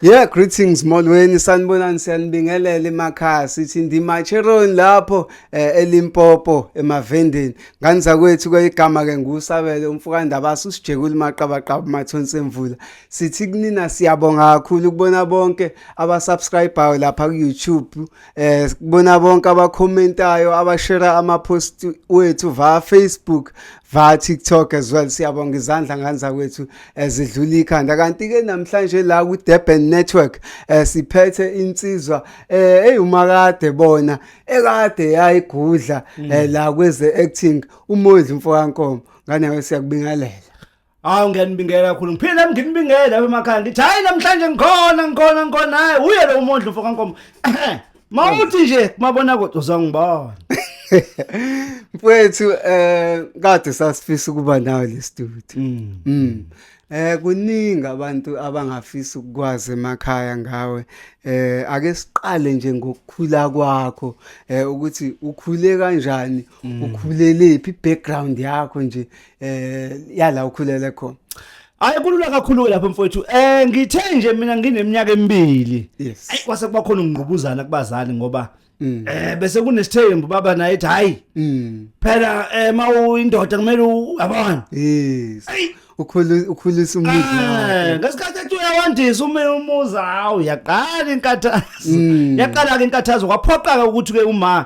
Yeah, greetings molweni sanibonani siyanibingelela emakhaya sithi ndimacheron lapho eh, elimpopo emavendeni Ngani zakwethu kweyigama ke ngusabele umfokandabasi usijekula umaqabaqaba umathonsi emvula sithi kunina siyabonga kakhulu ukubona bonke abasubscribayo lapha ku-youtube um eh, kubona bonke abakhomentayo abashera ama-post wethu via facebook via TikTok as well siyabonga izandla ngane zakwethu ezidlula eh, ikhanda kanti ke namhlanje la ku Durban Network eh, siphethe insizwa eh umakade bona ekade yayigudla mm. eh, la kweze acting umondli mfokankomo nganawe siyakubingelela Hawu ngiyanibingela kakhulu. Ngiphila nginibingela lapha emakhaya. Ngithi hayi namhlanje ngikhona ngikhona ngikhona hayi uye lo mondlo mfoka nkomo. Mawuthi nje kumabona kodwa uzongibona. Mfethu eh kade sasifisa ukuba nawe le studio. Mm. mm. Eh kuningi abantu abangafisa ukukwazi emakhaya ngawe. Eh ake siqale nje ngokukhula kwakho eh ukuthi ukhule kanjani, mm. ukhulelephi i-background yakho nje eh yala ukhulele khona. Hayi kulula kakhulu lapho mfowethu. Eh ngithe nje mina ngineminyaka emibili. Yes. Ayi kwase kuba khona ungqubuzana kubazali ngoba Mm. eh bese kunesithembu baba naye ethi hayi Mm. phela eh mawuyindoda kumele u- yabona Yes. Ayi. Ukhulu ukhulisa Eh, umndeni. ngesikhathi ethi uyawandisa ume umuzi hawu yaqala inkathazo Mm. yaqala ke inkathazo kwaphoqaka ukuthi ke uma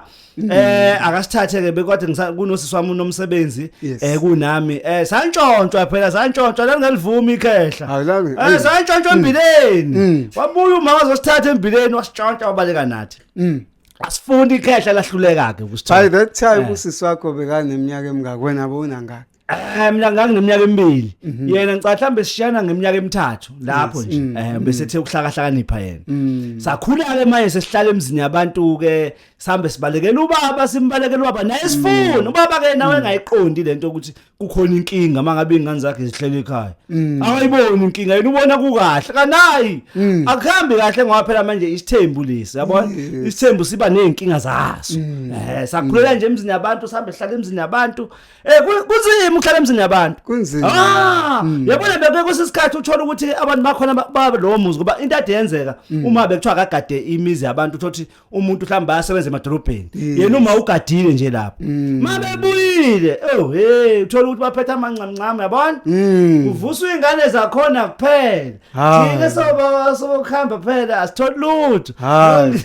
eh akasithathe ke bekwathi ngisa- kunosisi wami unomsebenzi Yes. eh kunami eh santshontshwa phela santshontshwa lalingavumi ikhehla Awulami. eh santshontshwa embileni Mm. wabuya uma wazosithatha embileni wasitshontsha wabaleka nathi trust mm. asifuni ikhehla lahluleka ke kusithola by that time eh. usisi wakho bekaneminyaka emingaka wena bowunangaki Eh mina ngangineminyaka emibili. Mhm. Yena ngicela mhlambe sishana ngeminyaka emithathu lapho nje. Mm, eh mm. bese the ukuhlakahlakanipha yena. Mm. Sakhula ke manje sesihlala emzini yabantu ke sambe sibalekela ubaba simbalekela ubaba naye sifuna ubaba ke nawe engayiqondi lento ukuthi kukhona inkinga uma ngabe iy'ngane zakhe zihlele ekhaya Mm. akayiboni inkinga yena ubona kukahle kanayi Mm. akuhambi kahle ngoba phela manje isithembu lesi yabona Yes. isithembu siba ney'nkinga zaso Mm. um sakhulela nje emzini yabantu sihambe sihlale emzini yabantu um kunzima ukuhlala emzini yabantu kunzima Ah, Mm. yabona beke kusisikhathi uthola ukuthi abantu bakhona ba- baba lowo muzi ngoba into ade yenzeka Mm. uma bekuthiwa akagade imizi yabantu uthola ukuthi umuntu mhlawumbe bayasebenza emadolobheni Yes. yena uma ugadile nje lapho Mm. ma bebuyile oh hey uthola ukuthi baphethe amanqamnqamu yabona Mm. kuvuswa iy'ngane zakhona kuphela Hayi. thina soba- sobokuhamba phela asitholi lutho Hayi.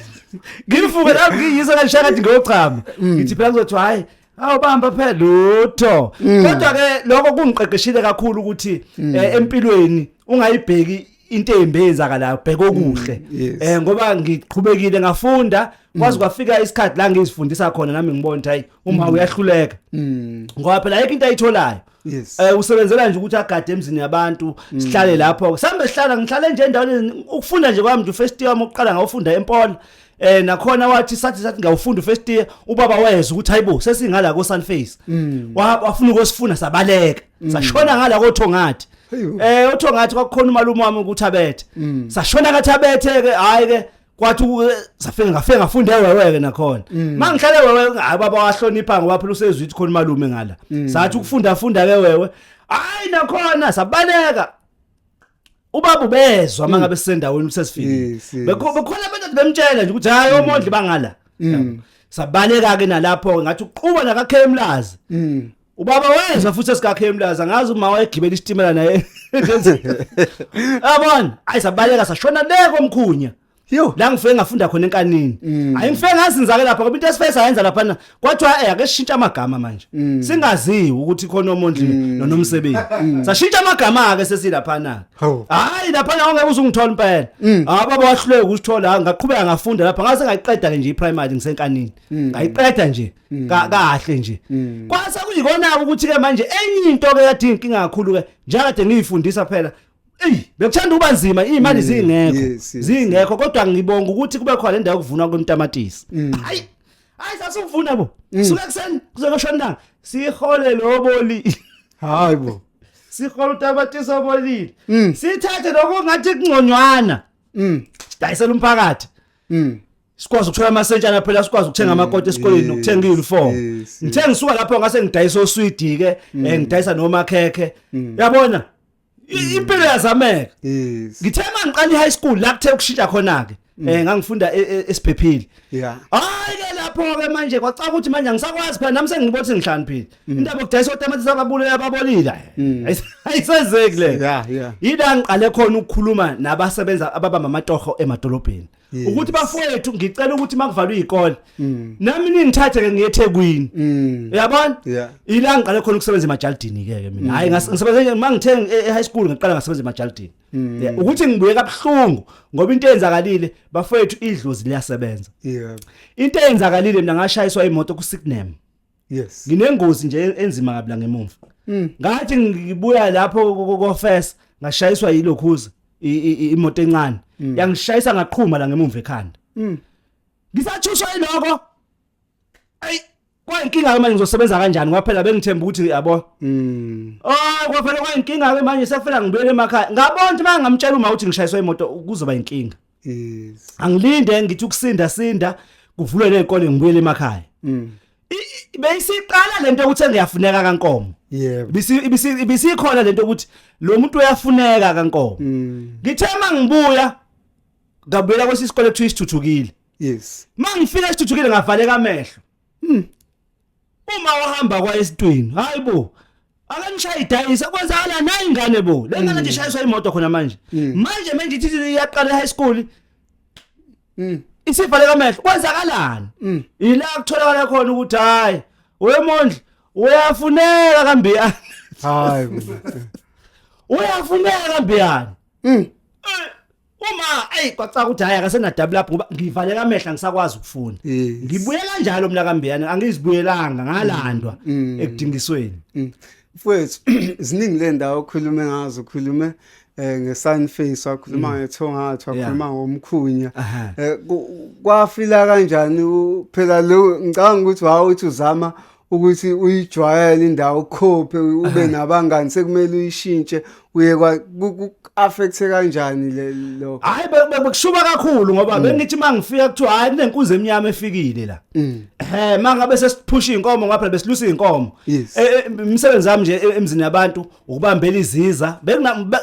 ngivuke la ngiyisa kanishakathi ngiyochama ngithi phela kuzothiwa hhayi awubamba phela lutho mm. kodwa ke lokho kungiqeqeshile kakhulu ukuthi mm. eh, empilweni ungayibheki into embe yenzakalayo bheka okuhle mm, eh ngoba ngiqhubekile ngafunda kwazi kwafika isikhathi la ngizifundisa khona nami ngibona ukuthi hayi uma uyahluleka ngoba phela ayikho into ayitholayo Yes. Eh usebenzela nje ukuthi agade emzini yabantu mm. sihlale lapho. Sambe sihlala ngihlale nje endaweni ukufunda nje kwami nje first year wami uqala ngawufunda eMpola. Eh nakhona wathi sathi sathi ngawufunda first year ubaba wayeza ukuthi hayibo sesingala ko Sunface. Mm. Wafuna ukosifuna sabaleka. Mm. Sashona ngala ko Thongathi. Eh uThongathi kwakukhona umalume wami ukuthi abethe. Sashona ngathi abethe ke hayi ke kwathi safika ngafika ngafunda eweweke nakhona mm. mangihlale wewe hayi baba wahlonipha ngoba phela usezwithi khona malume ngala mm. sathi ukufunda funda ke wewe hayi nakhona sabaleka ubaba ubezwa mm. mangabe sisendaweni usesifike bekhona abantu bemtshela nje ukuthi hayi omondli bangala sabaleka ke nalapho ngathi uqhuba nakakhemlazi Ubaba wezwa futhi esikakhe emlaza ngazi uma wayegibela isitimela naye. Abon, ayisabaleka sashona le komkhunya. Yo, la ngifike ngafunda khona enkanini. Mm. Ayingifike ngazinzake lapha ngoba into esifike sayenza lapha na kwathiwa eh ake sishintshe amagama manje. Mm. Singaziwi ukuthi khona omuntu mm. nonomsebenzi. Sashintsha amagama ke sesilapha na. Hayi lapha na ongeke uzungithola impela. Ah baba wahluleka ukusithola ngaqhubeka ngafunda lapha ngase ngayiqeda ke nje iPrimary ngisenkanini. Ngayiqeda nje. Mm. kahle nje mm. kwase kuyikona ukuthi ke manje enye into ke kade inkinga kakhulu ke njengade ngiyifundisa phela Ey bekuthanda uba nzima imali mm. zingekho zingekho kodwa ngibonga ukuthi kube khona indawo kuvunwa kwemtamatisi hayi hayi sasuvuna bo suka kuseni kuzokushona ntanga sihole loboli hayi bo sihole utamatisi obolile sithathe lokho ngathi kungconywana dayisela umphakathi sikwazi ukuthola amasentshana phela sikwazi ukuthenga mm, amakoti esikoleni nokuthenga i-uniform ngithe ngisuka lapho ngase ngidayisa oswidi-ke um eh, ngidayisa nomakhekhe mm. yabona mm. impilo yazameka ngithe uma ngiqala i-high school la kuthe ukushintsha khona-ke um ngangifunda e, e, esiphephile hhayi-ke lapho-ke manje kwacaka ukuthi manje angisakwazi phela nami sengibona ukuthi ngihlaniphile indaba yokudayisa otamatisi ababulela ababolile ayisezeki leyo yila ngiqale khona ukukhuluma nabasebenza ababamba amatoho emadolobheni Yes. ukuthi bafowethu ngicela ukuthi makuvalwe izikole Mm. nami ningithathe ke ngiyethekwini Mm. uyabona Yeah. ila ngiqale khona ukusebenza emajalidini ke ke mina hayi ngas- ngisebenze nje mangithe e- e-high school ngiqala ngasebenza emajalidini Yeah, ukuthi ngibuye kabuhlungu ngoba into eyenzakalile bafowethu idlozi liyasebenza Yeah. into eyenzakalile mina ngashayiswa imoto kuSignam yes nginengozi nje enzima kabla ngemumva mm. ngathi ngibuya lapho kokofesa ngashayiswa yilokhuza imoto encane mm. yangishayisa ngaqhuma la ngemumva ekhanda mm. ngisathuswa iloko ayi kwayinkinga ke manje ngizosebenza kanjani kwaphela bengithemba ukuthi yabo oh kwaphela kwayinkinga ke manje sekufanele ngibuyele emakhaya ngabona ukuthi mangamtshela uma uthi ngishayiswa imoto kuzoba inkinga yes angilinde ngithi ukusinda sinda kuvulwe nezikole ngibuyele emakhaya mm beyisiqala lento ukuthi ngiyafuneka kankomo yebo bisi bisi bisikhona lento ukuthi lo muntu uyafuneka kankomo mm. ngithe mangibuya ngabuyela kwesisikole kuthiwa isithuthukile yes mangifika isithuthukile ngavaleka amehlo Hmm. Uma uhamba kwa esitwini, hayibo. Akanishayi dayisa kwenzakala nayi ingane bo. Lengane nje ishayiswa imoto khona manje. Mm. Manje manje ithi iyaqala high school. Mm. Isifa leka mehlo kwenzakalani? Mm. Yila kutholakala khona ukuthi hayi wemondla uyafuneka kambiyani. Hayi. Uyafuneka kambiyani. Mm. Eh, uma ayi kwacaca ukuthi hayi akasena double up ngoba ngivaleka amehla ngisakwazi ukufunda Yes. ngibuye kanjalo mina kambiyana angizibuyelanga ngalandwa Mm. ekudingisweni Mm. Mfowethu ziningi le ndawo okhulume ngazo ukhulume eh ngesun face wakhuluma ngethongathi Yeah. wakhuluma ngomkhunya Aha. eh ku- kwafila kanjani u- phela lo ngicabanga ukuthi wawu uthi uzama ukuthi uyijwayele indawo ukhophe ube nabangani sekumele uyishintshe uye ku-affecthe kanjani le lo hayi bekushuba kakhulu ngoba mm. bengithi uma ngifika kuthiwa hayi kunenkunzi emnyama efikile la mm. ehe uma ngabe sesiphusha iy'nkomo ngaphela besilusa iy'nkomo e, e, imisebenzi yami nje e, emzini yabantu ukubambela iziza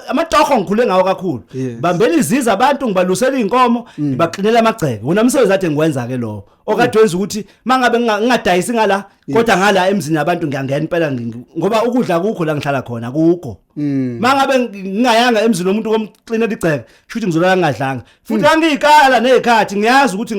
amatoho ngikhule ngawo kakhulu bambela iziza abantu ngibalusela iy'nkomo mm. ngibaklinela amagceke wona msebenzi ade ngiwenza-ke lowo okade wenza ukuthi mangabe ngingadayisi ngala kodwa ngala emzini abantu ngiyangena impela ngoba ukudla kukho la ngihlala khona kukho mm. mangabe ngingayanga emzini womuntu komxinela igceke shuthi ngizolala ngingadlanga futhi mm. angiyikala nezikhathi ngiyazi ukuthi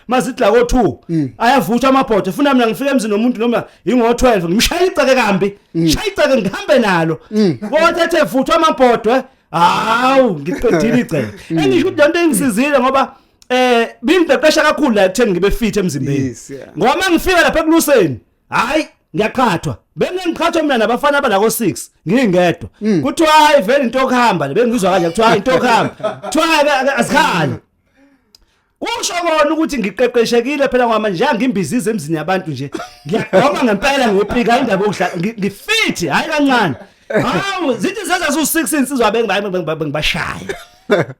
mazidla ko 2 mm. ayavuthwa amabhodwe funa mina ngifike emzini womuntu noma ingo 12 ngimshaya igceke kambi shaya igceke ngihambe nalo kodwa ethe vuthwa amabhodwe hawu ngiqedile igceke engisho ukuthi lento ingisizile ngoba eh bingiqeqesha kakhulu la ekutheni ngibe fit emzimbeni Yes, yeah. ngoba mangifika lapha ekuluseni hayi ngiyaqhathwa bengengiqhathwa mina nabafana abalako 6 ngingedwa Mm. kuthiwa hayi vele into yokuhamba le bengizwa kanje kuthiwa hayi into yokuhamba kuthiwa hayi ke- ke- azikhali kusho kona ukuthi ngiqeqeshekile phela ngoba manje angimbizize emzini yabantu nje ngiyagoma ngempela ngiyopika indaba yokuhlala ngi- ngifit hayi kancane Hawu zithi seza su 6 insizwa bengibashaya.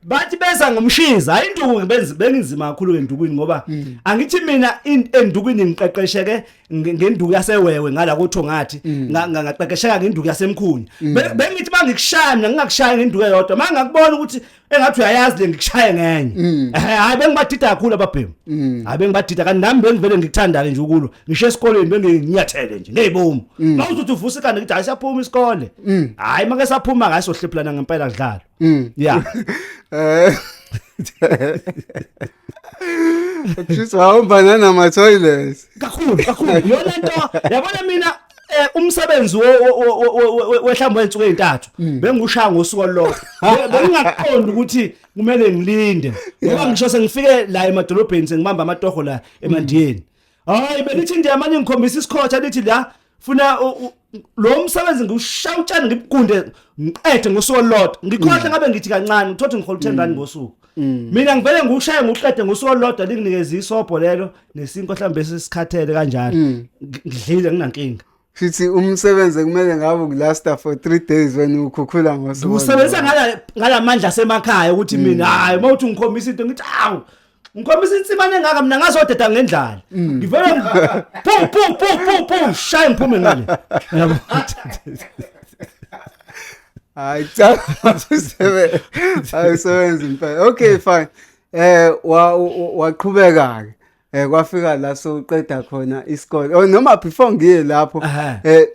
Bathi beza ngomshiza hayi induku benzi bengizima kakhulu endukwini ngoba mm. angithi mina endukwini ngiqeqesheke ngenduku yasewewe ngala kotho ngathi mm. ngaqeqesheka ngenduku yasemkhuni mm. bengithi mangikushaya mina ngingakushaya ngenduku eyodwa mangakubona ukuthi engathi uyayazi le ngikushaye ngenye mm. eh, hayi bengibathitha kakhulu ababhemu mm. hayi bengibathitha kanti nami bengivele ngikuthanda-ke nje ukulo ngisho esikoleni benginyathele nje ngeyibomu mm. ma uzothi uvusa ikanda ngithi hayi siyaphuma isikole hayi make saphuma ngaye sohlephulana ngempela kudlalo ya eh. Just wahamba nanama toilets. Kakhulu kakhulu. Yona nto yabona mina eh umsebenzi wehlamba wensuku ezintathu mm. bengushaya ngosuku olulodwa bengingaqondi ukuthi kumele ngilinde ngoba ngisho sengifike la emadolobheni sengibamba amatoho la emandiyeni mm. hayi belithi ndiya manje ngikhombisa isikhotha lithi la funa lo msebenzi ngiwushaya utshani ngibunde ngiqede ngosuku olulodwa ngikhohle mm. ngabe ngithi kancane ngithothi ngihole 10 rand ngosuku Mm. mina ngivele ngiwushaye ngiwuqede ngosuku olulodwa linginikeza isobho lelo nesinkwa mhlawumbe sesikhathele kanjalo Mm. Ngi- ngidlile nginankinga Shithi umsebenzi kumele ngabe ukulasta for 3 days wena ukhukhula ngosuku. ngiwusebenzisa ngala- ngalamandla asemakhaya ukuthi mina hayi uma uthi ngikhombisa into ngithi awu ngikhombisa insimane engaka mina ngazodeda ngendlala ngivele ngi- pu pu pu pu pu shaye ngiphume ngale Yabo? hayi cha usebenza hayi usebenza impela okay fine eh waqhubeka ke eh kwafika la soqeda khona isikole oh, noma before ngiye lapho eh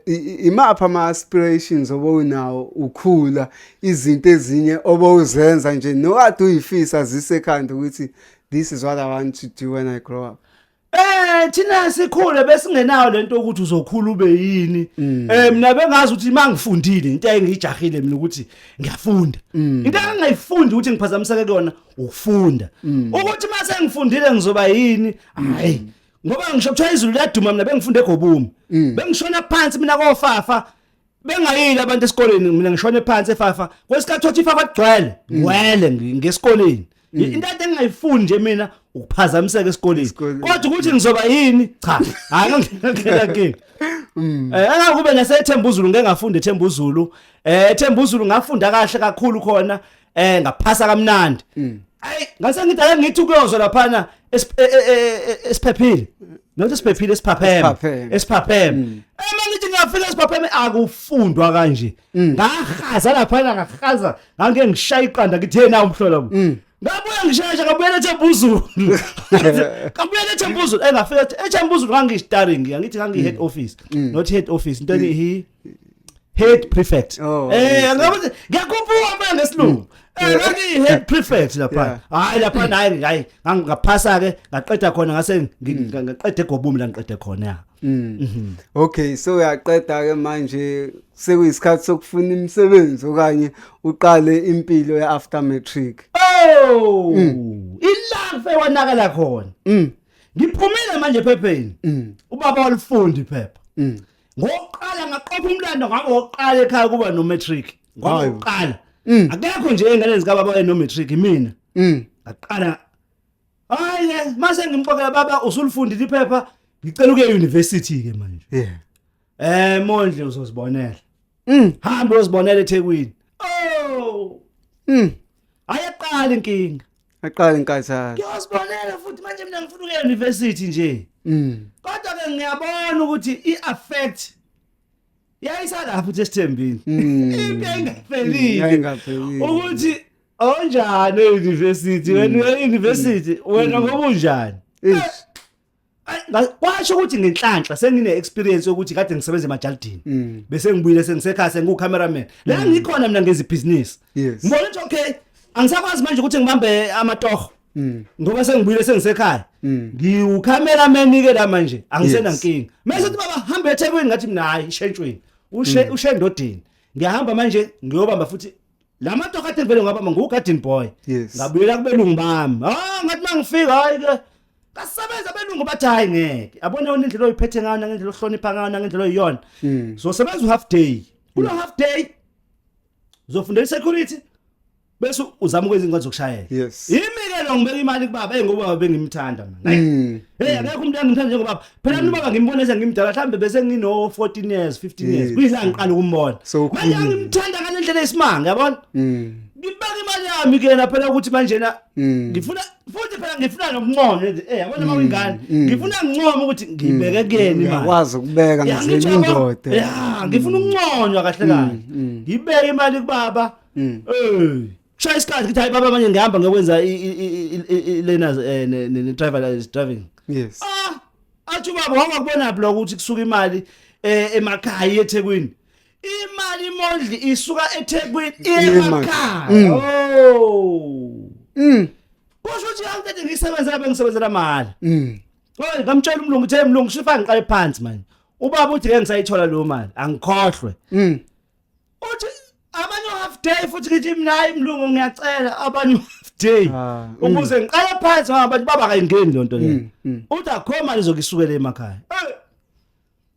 imapha ama aspirations obowunawo ukhula izinto ezinye obowuzenza nje nokade uyifisa zisekhanda ukuthi this is what i want to do when i grow up Eh thina sikhule besingenayo lento ukuthi uzokhula ube yini. Mm. Eh mina bengazi ukuthi mangifundile into engijahile mina ukuthi ngiyafunda. Mm. Into engayifundi ukuthi ngiphazamiseke kuyona ukufunda. Mm. Ukuthi mase ngifundile ngizoba yini? Hayi. Ngoba ngisho kuthiwa izulu liyaduma mina bengifunde egobumi. Bengishona phansi mina kofafa bengayile abantu esikoleni mina ngishone phansi efafa kwesikhathi othi ifafa kugcwele ngwele ngi- ngesikoleni into ade engingayifuni nje mina ukuphazamiseka esikoleni Esikoleni. kodwa ukuthi ngizoba yini cha hayi ngangena kingi Eh angakube nasethemba uZulu ngeke ngafunde ethemba uZulu eh ethemba uZulu ngafunda kahle kakhulu khona eh ngaphasa kamnandi mm. ayi ngase ngithi ake ngithi kuyozwa laphana e, e, e, esiphephile not esiphephile esiphapheme esiphapheme mm. uma ngithi ngiyafika esiphapheme akufundwa kanje mm. ngahaza laphana ngahaza ngangike ngishaya iqanda ngithi yena umhlola ngabuya ngisheshe ngabuya lethe mbuzulu ngabuya lethe mbuzulu engafika eh, lethe mbuzulu ngangishitaringi ngithi ngangi head office not head office into ethi head prefect oh, eh angabe ngiyakhuphuka manje ngesilungu eh kanti head prefect lapha hayi lapha nayi hayi ngaphasa ke ngaqeda khona ngase mm. ngaqede gobumi la ngiqede khona mm. mhm. okay so uyaqeda ke manje sekuyisikhathi sokufuna imisebenzi okanye uqale impilo ye after matric oh mm. ilaphe wanakala khona ngiphumile manje phepheni ubaba walifundi phepha ngokuqala ngaqopha umlando ngabo wokuqala ekhaya kuba no matric ngoba Hayi. uqala Mm. akekho nje engane zikababa waye no matric mina Mm. ngaqala hayi ke mase ngimxokela baba usulifundile iphepha ngicela ukuya university ke manje Yeah. eh mondle uzozibonela Mm. hamba uzibonela eThekwini oh Mm. ayeqala inkinga Aqale inkathazo. Ngiyozibonela futhi manje mina ngifuna ukuya university nje. Mm. Kodwa ke ngiyabona ukuthi i affect yayisalapho uthi esithembini. Mm. Into engaphelile. Yayingaphelile. Ukuthi onjani e-university wena uya e-university wena ngoba unjani? Ish. kwasho ukuthi ngenhlanhla sengine experience yokuthi kade ngisebenza emajalidini mm. bese ngibuyile sengisekhaya sengu cameraman la mm. ngikhona mina ngenza business ngibona ukuthi okay angisakwazi manje ukuthi ngibambe amatoho mm. ngoba sengibuyile sengisekhaya ngiwu cameraman ke la manje angisena nkingi mase uthi baba hamba eThekwini ngathi mina hayi shentshweni ushe mm. ushendodini ngiyahamba manje ngiyobamba futhi la madoda akade ngivele ngabamba ngugarden boy Yes. ngabuyela kubelungu bami ah ngathi mangifika hayi ke kasebenza abelungu bathi hayi ngeke abone yona indlela oyiphethe ngayo nangendlela ohlonipha ngayo nangendlela oyiyona Mm. zosebenza u-half day kulo half day uzofundela i-security bese uzama ukwenza iincwadi zokushayela Yes. yimi-ke lo ngibeka imali kubaba eyi ngobaba bengimthanda mna Mm. heyi akekho umuntu engimthanda njengobaba phela mm. nubaba ngimbona eze ngimdala mhlambe bese ngino 14 years 15 years kuyila ngiqala ukumbona manje ngimthanda ngale ndlela esimanga yabona mm. ngibeka imali yami kuyena phela ukuthi manje na mm. ngifuna futhi phela ngifuna nokuncono eh yabona uma uyingane ngifuna ngincoma ukuthi ngibeke kuyena imali ngiyakwazi ukubeka ngizenye indoda ya ngifuna ukunconywa kahle kahle ngibeke imali kubaba eh Shaya isikhathi ngithi hayi baba manje ngihamba ngiyokwenza learners eh, ne driver license driving. Yes. Ah, athi baba wangakubona block ukuthi kusuka imali eh, emakhaya eThekwini. Imali imondli isuka eThekwini emakhaya. Mm. Oh. Mm. Kusho ukuthi angithe ngisebenza lapha ngisebenzela mahhala. Mm. Oy, ngamtshela umlungu uthe mlungu shifa ngiqale phansi manje. Ubaba uthi ngeke ngisayithola lo mali, angikhohlwe. Mm. uthi abanye half day futhi ngithi mina hayi mlungu ngiyacela abanye half day Ah, mm. ukuze ngiqale phansi ngoba abantu baba kayingeni le nto leyo Mm, mm. uthi akho mali zokisukela emakhaya Eh!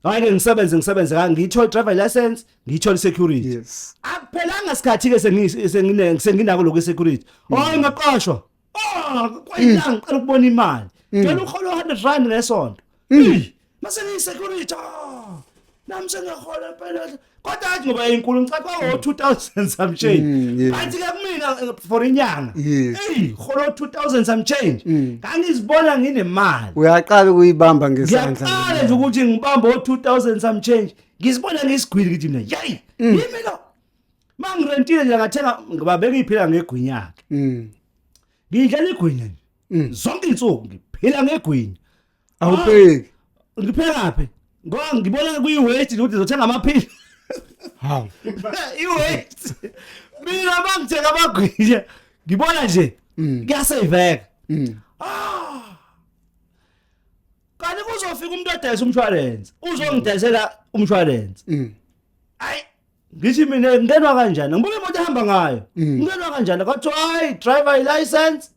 hayi ke ngisebenze ngisebenze ka ngiyithole driver license ngiyithole security yes akuphelanga sikhathi ke sengise- sengine- senginako lokwe security oh ngaqashwa Ah, kwayilanga ngicela ukubona imali. Ngicela ukholo 100 rand ngesonto. Mase ngi security. ah, Nami sengahola phela. Kodwa athi ngoba inkulu ngicela kwa 2000 some change. Mm, yeah. Bathi ke kumina eh, for inyanga. Yes. Mm. Ey, kholo 2000 some change. Ngangizibona nginemali. uyaqala ukuyibamba ngesandla Ngiyaqala nje ukuthi ngibambe o 2000 some change. Ngizibona ngisigwili kithi mina. Yayi, yimi lo. mangirentile nje ngathenga ngibabeka iphila ngegwinya yakhe Mm. ngidlela igwinya nje Mm. zonke insuku ngiphila ngegwinya Awupheki. ngiphekaphi ngoba ngibona kuyi-weight ukuthi ngizothenga amaphili Hawu. i-weight mina mangithenga amagwinya ngibona nje Mm. kuyaseyiveka Mm. kanti kuzofika umuntu odayisa umshwalense uzongidayisela umshwalense Mm. ayi ngithi mina ngenwa kanjani ngibuka imoto ehamba ngayo Mm. ngenwa kanjani kwathiwa hayi driver license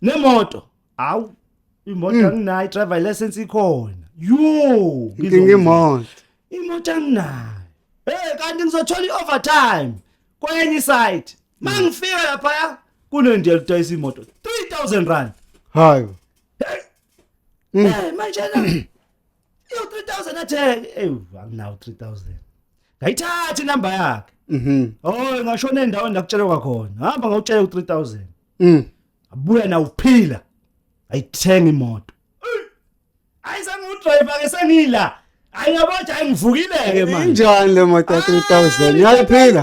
nemoto hawu imoto Mm. anginayo driver license ikhona yo nginga imoto imoto anginayo hey kanti ngizothola i-overtime kwenye iside ma ngifika laphaya kunendiya ludayisa imoto 3000 rand hayo Mm. Eh, manje na Yo 3000 athe ewu anginawo 3000. Ngayithatha inamba yakhe. Mhm. Oh ngashona endaweni la kutshelwa khona. Hamba ngawutshela u 3000. Mhm. Abuya na uphila. Ayithenga imoto. Ayizange udriver ke sengila. Ayiyabo nje ayingivukile ke manje. Injani le moto 3000? Yayiphila.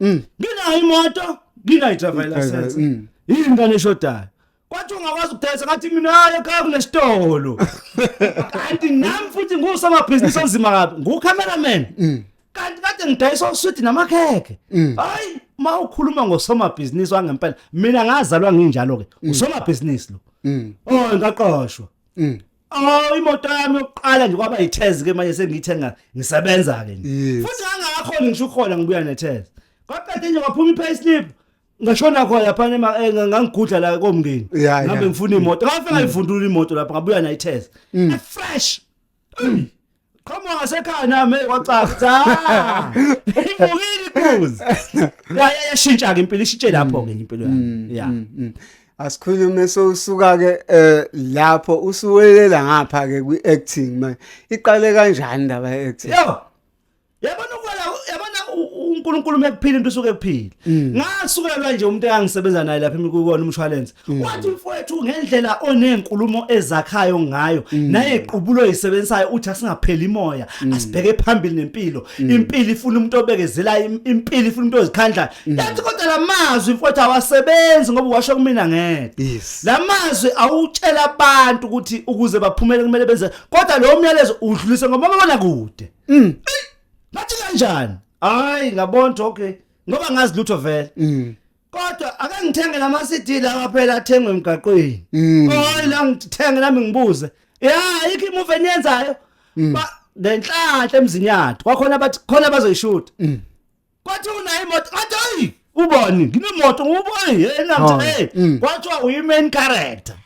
Mm. Nginayo imoto, nginayo driver license. Mm. Yini ingane eshodayo? Kwathi ungakwazi ukudayisa ngathi mina hayi ekhaya kunesitolo. Kanti nami futhi ngusomabhizinisi onzima kabi, ngu-cameraman. Mm. Kanti kade ngidayisa uswidi namakhekhe. Hayi, uma ukhuluma ngosomabhizinisi wangempela, mina ngazalwa nginjalo-ke, usomabhizinisi lo. Oh, ngaqoshwa. Oh imoto yami yokuqala nje kwaba yithezi ke manje sengiyithenga ngisebenza ke nje. Yes. Futhi ngangakho ngisho ukhona ngibuya nethezi. Kwaqede nje kwaphuma i-pay slip. Ngashona khona lapha nema eh, nga- ngangigudla la komngeni. Ya, ya. Ngabe ngifuna imoto. Ngafika ngayivundula imoto lapha ngabuya nayithezi. Fresh. Ey, qhamuka ngasekhaya nami hey, kwacaca Cha. ivukile ikuzi ya ya yashintsha ke impilo ishintshe lapho ke impilo yami ya Mm, mm. asikhulume sowusuka ke eh, lapho usuwelela ngapha ke kwi-acting manje iqale kanjani ndaba ye-acting yo yabona ukwala yabona uNkulunkulu mekuphila into usuke kuphila mm. ngasukelwa nje umuntu engangisebenza naye lapha emikukona umshwalense mm. wathi mfowethu ngendlela onenkulumo ezakhayo ngayo mm. naye iqubulo isebenzayo uthi asingapheli imoya asibheke phambili nempilo impilo ifuna umuntu obekezela impilo ifuna umuntu ozikhandla yathi kodwa lamazwi mfowethu awasebenzi ngoba washo kumina ngedwa lamazwi awutshela abantu ukuthi ukuze baphumele kumele benze kodwa lo myalezo udlulise ngoba babona kude Mm. Ngathi kanjani? Hayi ngabona okay. Ngoba ngazi lutho vele. Mm. Kodwa ake ngithenge lama CD lawa phela athengwe emgaqweni. Mm. Hayi la ngithenge nami ngibuze. Ya ikho imuvi eniyenzayo. Mm. Ba ngenhlanhla emzinyathu. Kwakhona bathi khona bazoyishuta. Mm. kwathi unayo imoto kwathi ayi ubani nginemoto ubani yena Oh, mthe mm. kwathiwa uyi-main character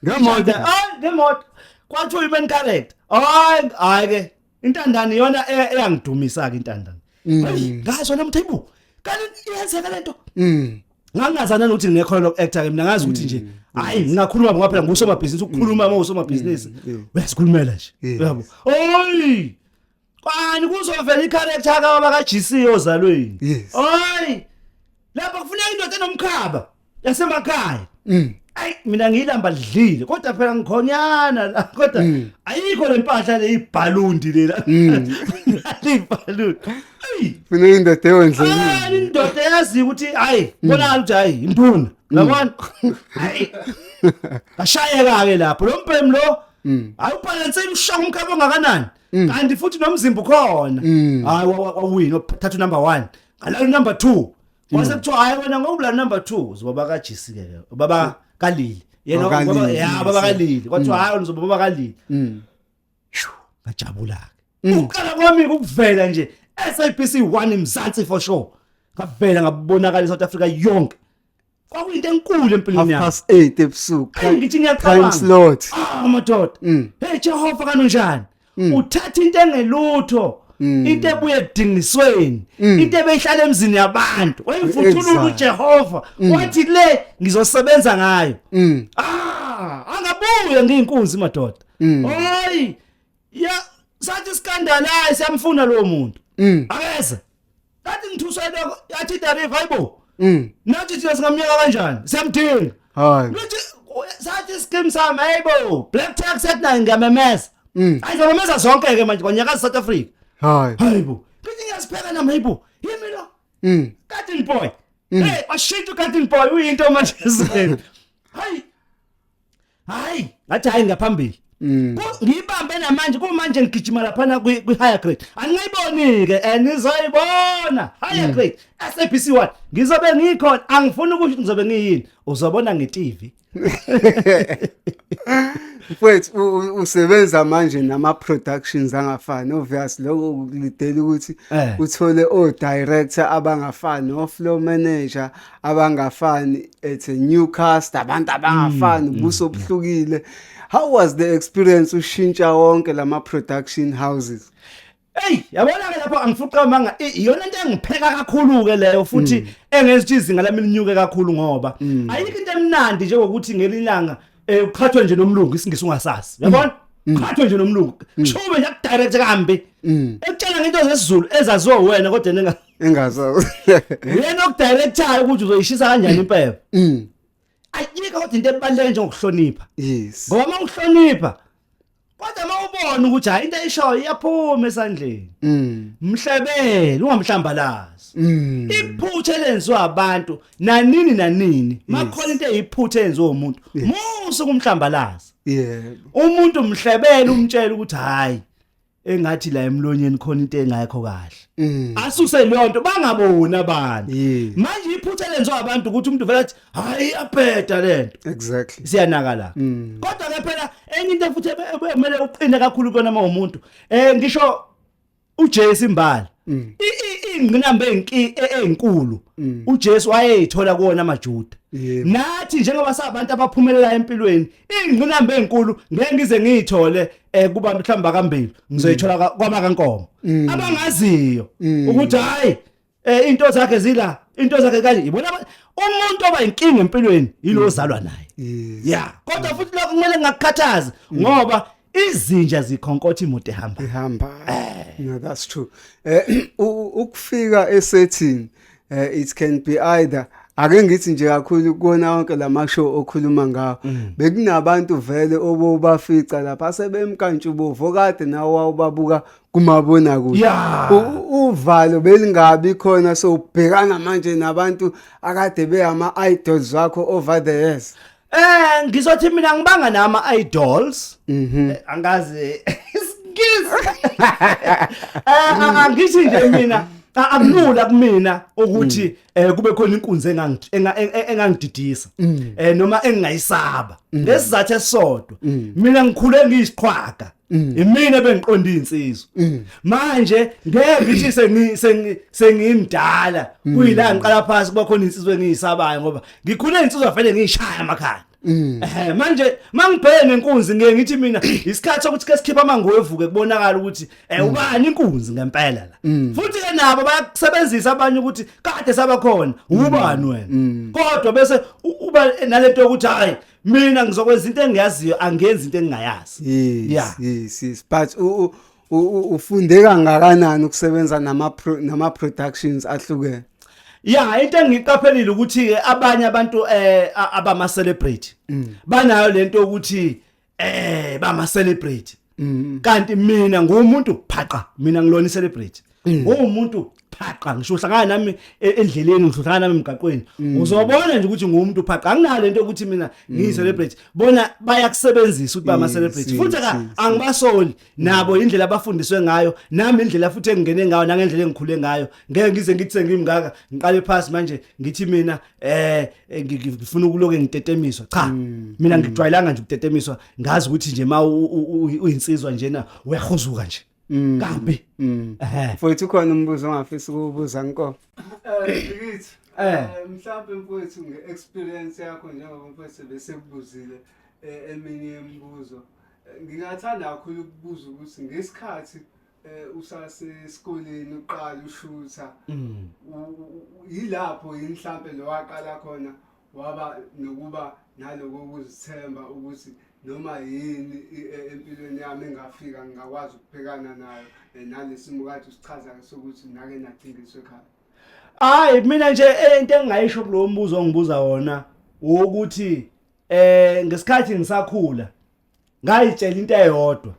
Ngemoto. Hayi, ngemoto kwathiwa uyi-main character hayi hayi-ke intandane iyona e- eyangidumisa-ke intandane Mm. Ayi, ngazwa namthe ibu kanti iyenzeka le nto Mm. ngangingazana nokuthi ngekhono loku-acta ke mina ngazi ukuthi nje Mm. hhayi ngingakhuluma ngoba phela ngusomabhizinisi ukukhuluma uma usomabhizinisi uyazikhulumela nje Yes. uyabo oyi Kwani kuzovela i-character kababa ka-GC ozalweni. Yes. Hayi. Lapha kufuneka indoda enomkhaba yasemakhaya. Mm. Ayi mina ngiyilamba lidlile kodwa phela ngikhonyana la kodwa Mm. ayikho lempahla leyibhalundi lela. Mm. Leyibhalundi. Ayi. Mina indoda ewondlekile. Hayi indoda yazi ukuthi hayi Mm. bonakala ukuthi hayi induna. Yabona? Hayi. Ashayeka ke lapho lo mbhemu lo. Mm. Awubhalanse imshaka umkhaba ongakanani? Mm. kanti futhi nomzimba ukhona Mm. hayi wa- wa- wawina thatha unumber one ngalalo number two Mm. wase kuthiwa hayi wena ngokubulala number two uzobaba kajisi ke ubaba kalili yena Oh, ubaba- Kalili, ya yes, baba yes. kalili kwathiwa hayi wena uzobaba kalili Mm. Shu, ngajabula-ke Mm. ukuqala kwami ukuvela nje sabc one mzansi for sure ngavela ngabonakala i-south africa yonke kwakuyinto enkulu empilweni half yami past 8 ebusuku Hey, ngithi time ngiyacabanga slot Ah, madoda Mm. hey jehova kanunjani uthatha into engelutho Mm. into ebuye ekudingisweni into ebeyihlala emzini yabantu wayivuthulula Exact. Mm. ujehova wathi le ngizosebenza ngayo Mm. ah angabuye ngiyinkunzi madoda Mm. hayi ya sathi sikandalayi siyamfuna lowo muntu Mm. akeze Ngathi ngithuswa iloko yathi idariva hayibo. Mm. Nathi thina singamnyaka kanjani? Siyamdinga. Hayi. Nathi sathi iskim sami hayibo. Black tax at nayo ngiyamemeza. Mm. Hayi ngiyamemeza zonke ke manje kwanyaka South Africa. Hayi. Hayibo. Ngithi ngiyasipheka nami hayibo. Yimi lo. Mm. Garden boy. Mm. Hey, washintsha ugarden boy uyinto manje zeni. Hayi. hayi ngathi hayi ngaphambili Mm. Ku- ngiyibambe namanje kumanje ngigijima laphana kwi- kwi-higher grade angiyiboni-ke and ngizoyibona higher grade sabc one ngizobe ngikhona angifuni ukusho ukuthi ngizobe ngiyini uzobona nge-tv mfwethu u- u- usebenza manje nama-productions angafani obvious lokho kulidela ukuthi Eh. uthole o-director abangafani o-flow manager abangafani it's a new cast abantu abangafani mm, ubuso mm, mm. obuhlukile how was the experience ushintsha wonke lama production houses Ey yabona ke lapho angifuqa amanga iyona into engipheka kakhulu ke leyo futhi mm. engenza ukuthi izinga lami linyuke kakhulu ngoba mm. ayikho into emnandi njengokuthi ngelinyanga eh uqhathwe nje nomlungu isingisi ungasazi mm. yabona uqhathwe nje nomlungu shube nje ku direct kambi ekutshela ngento zesizulu ezaziwa wena kodwa nenga engazi uyena okudirectayo ukuthi uzoyishisa kanjani impepho mm. ayikho kodwa into ebaluleke njengokuhlonipha yes ngoba uma uhlonipha kodwa uma ubona ukuthi hayi into ayishoyo iyaphuma esandleni mm. mhlebele ungamhlambalazi mm. iphutha elenziwa abantu nanini nanini makhona into eyiphutha eyenziwa umuntu musu kumhlambalazi umuntu mhlebele umtshela ukuthi hayi engathi la emlonyeni khona into engayikho kahle Mm. asuse leyo nto bangaboni abantu Yeah. manje iphutha lenziwa abantu ukuthi umuntu vele athi hayi abheda lento Exactly. siyanaka la Mm. kodwa ke phela enye into futhi kumele uqine kakhulu kona uma umuntu eh ngisho uJesu imbali Mm. I- i- ingqinamba enki- e- enkulu Mm. uJesu wayeyithola kuwona amaJuda Yebo. nathi njengoba sabantu abaphumelela empilweni ingqinamba enkulu ngeke ngize ngiyithole eh kubantu mhlawumbe bakambili ngizoyithola ka- kwamakankomo Mm. abangaziyo Mm. ukuthi hayi eh into zakhe zila into zakhe kanje ibona aba- umuntu oba inkinga empilweni yilo ozalwa naye Mm. Yes. ya kodwa futhi lokho kumele ngakukhathazi ngoba izinja zikhonkotha imoto ehamba ihamba no that's true eh u- ukufika esetting uh, it can be either ake ngithi nje kakhulu kuwona wonke la mashow okhuluma ngawo mm. bekunabantu vele obobafica lapha asebemkantshubovu kade nawo wawubabuka kumabona kude yeah. uvalo belingabi khona so ubhekana manje nabantu akade beyama idols wakho over the years Eh ngizothi mina ngibanga nama idols. Mhm. Eh, angazi iskiz. Eh angithi nje mina akulula kumina ukuthi mm. eh kube khona inkunzi engangididisa mm. eh noma engingayisaba mm. ngesizathu esisodwa mina ngikhule ngiyisiqhwaga Mm. Imina bengiqonda insizwa. Mm. Manje ngeke ngithi sengi sengimdala mm. kuyila ngiqala phansi kuba khona insizwa engiyisabayo ngoba ngikhule insizwa fanele ngiyishaya amakhanda. Eh manje mangibheke nenkunzi ngeke ngithi mina isikhathi sokuthi ke sikhipha amango evuke kubonakala ukuthi eh ubani inkunzi ngempela la. Futhi ke nabo bayakusebenzisa abanye ukuthi kade sabakhona ubani wena. Kodwa bese uba nalento yokuthi hayi mina ngizokwenza into engiyaziyo angenzi into engingayazi yes yeah. yes yes but ufunde kangakanani ukusebenza nama nama productions ahlukene ya into engiqaphelile ukuthi ke abanye abantu eh abama celebrate mm. banayo lento ukuthi eh bama celebrate Mm. kanti mina ngumuntu phaqa mina ngilona celebrity mm. ngumuntu phaqa ngisho uhlangana nami e, endleleni ngisho uhlangana nami emgaqweni mm. uzobona nje ukuthi ngumuntu phaqa anginalo into ukuthi mina ngiyi celebrity bona bayakusebenzisa ukuthi bama celebrity futhi ka angibasoli nabo indlela abafundiswe ngayo nami indlela futhi engingene ngayo nangendlela engikhule ngayo ngeke ngize ngithe ngimngaka ngiqale phansi manje ngithi mina eh eh, ngi- ngi- ngifuna ukuloke ngitetemiswa cha Mm, mina ngijwayelanga nje ukutetemiswa ngazi ukuthi nje ma u- u- u- uyinsizwa njena uyahuzuka nje Mm. kambi Mm. ehe Mfowethu ukhona umbuzo ongafisi ukuwubuza nko. Ngithi Eh. mhlawumbe mfowethu nge-experience yakho njengoba mfowethu besekubuzile eh, eminye yemibuzo. Eh, Ngingathanda kakhulu ukubuza ukuthi ngesikhathi eh usasesikoleni uqala ushutha mm. yilapho yini mhlambe lo waqala khona waba nokuba naloko ukuzithemba ukuthi noma yini e, empilweni yami engafika ngingakwazi ukubhekana nayo eh, nalesimo kade usichaza-ke sokuthi nake nacingiswe ekhaya hayi mina nje eh, into engingayisho kulowo mbuzo ongibuza wona wokuthi eh ngesikhathi ngisakhula ngayitshela into eyodwa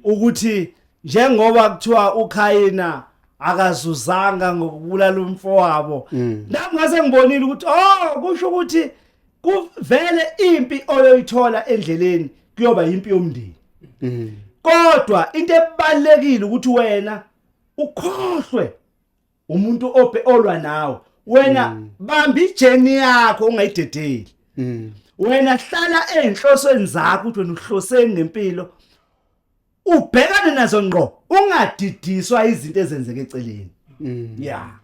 ukuthi njengoba kuthiwa uKhayina akazuzanga ngokubulala umfowabo mm. nami ngase ngibonile ukuthi oh kusho ukuthi kuvele impi oyoyithola endleleni kuyoba impi yomndeni mm. kodwa into ebalekile ukuthi wena ukhohlwe umuntu ope olwa nawe wena mm. bamba ijeni yakho ungayidedeli mm. wena hlala enhlosweni zakho ukuthi wena uhloseni ngempilo ubhekane nazo ngqo ungadidiswa izinto ezenzeke eceleni mm. yeah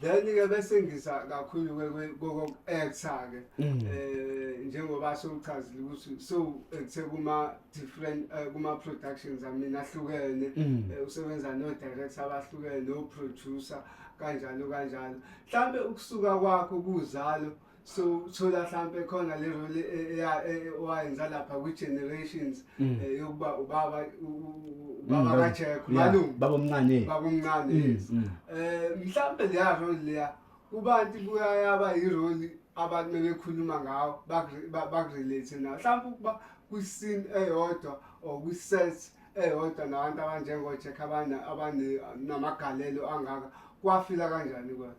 then ke bese ngisa kakhulu koko actor ke mm. eh njengoba sewuchazile ukuthi so ekuthe kuma different uh, kuma productions amina ahlukene mm. uh, usebenza no director abahlukene no producer kanjalo kanjalo mhlambe ukusuka kwakho kuzalo so thola mhlambe khona le role e, e, e, owayenza lapha kwi generations mm. eh, yokuba ubaba ubaba mm, kaJack malungu babomncane babomncane eh mhlambe leya role leya kubantu kuyayaba iroli abantu bebekhuluma ngawo bakurelate nawo mhlawumpe ukuba kwi-scene eyodwa or kwi-set eyodwa nabantu abanjengo-jack abanamagalelo angaka kwafila kanjani kwena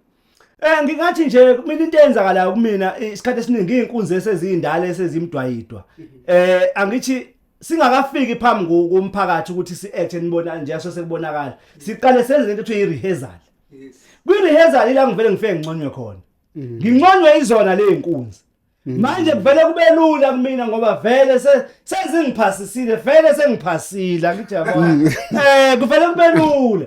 Eh ngingathi nje mina into eyenzakalayo kumina isikhathi esiningi inkunzi esezindala esezimdwayidwa. Eh angithi singakafiki phambi kumphakathi ukuthi si-act enibona nje so sekubonakala siqale senze into ekuthiwa i-rehearsal kwi-rehearsal ila ngivele ngifike nginconywe khona mm. nginconywe izona ley'nkunzi mm. manje kuvele kube lula kumina ngoba vele sezingiphasisile vele sengiphasile angithi yabona um mm. eh, kuvele kube lula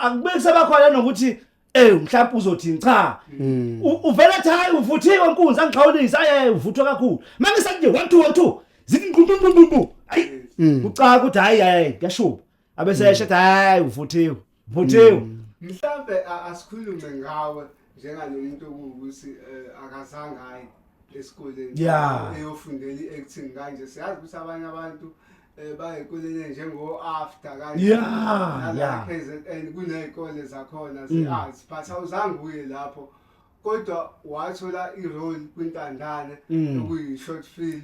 akube kusebakhona nokuthi Eh mhlawumbe uzothini cha. Mm. Uvela ethi hayi uvuthiwe nkunzi angixhawulisa aye uvuthwe kakhulu. Manje sanje 1 2 1 2 zithi nqumbu nqumbu. Ayi. Mm. Ucaka ukuthi hayi hayi kuyashuba. abesesho ethi hayi uvuthiwe vuthiwe mhlambe a- asikhulume ngawe njengalo muntu okuwukuthi eh, akazange aye esikoleni Ya. eyofundela i-acting kanje siyazi ukuthi abanye abantu eh, bayikulele njengo-after kanje Ya, Nala ya. KZN kuney'kole zakhona ze-arts but awuzange uye lapho kodwa wathola i-role kwintandane Mm. okuyi-short film